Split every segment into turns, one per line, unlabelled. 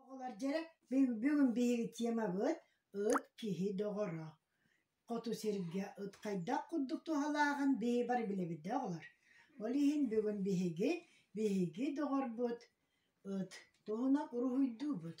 Оҕолор дьэ бүгүн биһиги темабыт ыт киһи доҕоро. Хоту сиргэ ыт хайдах курдук туһалааҕын биһи бары билэбит да оҕолор. Ол иһин бүгүн биһиги, биһиги доҕорбут ыт туһунан уруһуйдуубут.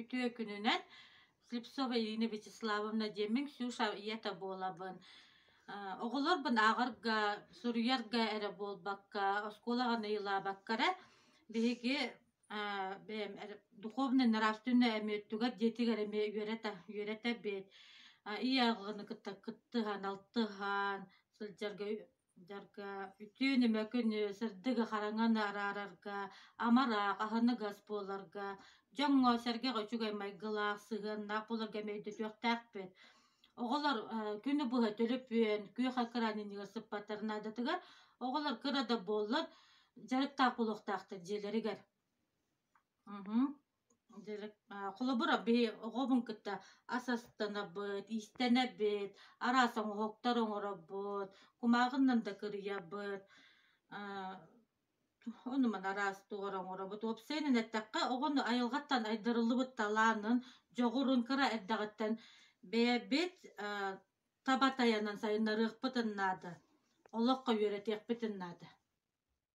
Үтүө күнүнэн Слепцова Ирина Вячеславовна диэммин Ксюша ийэтэ буолабын. Э, оҕолорбун ааҕарга, суруйарга эрэ буолбакка, оскуолаҕа найылаабакка эрэ биһиги э, бэйэм духовнай нравственнай эмиэ өттүгэр дьиэтигэр эмиэ үөрэтэ үөрэтэбит. Э, ийэ аҕаны кытта кыттыһан, алтыһан сылдьарга Дьарга үтүө ньыма күнү сырдыгы хараҥаны араарарга, амараах, аһыныгас буоларга, дьоҥҥо, сэргэх үчүгэй майгылаах, сыһыаннаах буоларга эмиэ өйдөтүөхтээхпит. Оҕолор э, күнү быһа төлөпүөн, күөх кыраныынньыгар сыппаттар наадатыгар оҕолор кыра да буоллар дьарыктаах буолуохтаахтар дьиэлэригэр. Мгм. Холобур, биһи оҕобун кытта ас астанабыт, иистэнэбит, араас оҥоһуктар оҥоробут, кумааҕыннан да кырыйабыт, оннуман араас тугу оҥоробут. Уопсайынан эттэххэ, оҕон айылҕаттан айдарыллыбыт талаанын, дьоҕурун кыра эрдэҕиттэн бэйэбит таба тайанан сайыннарыахпытын наада, олоххо үөрэтиэхпитин наада.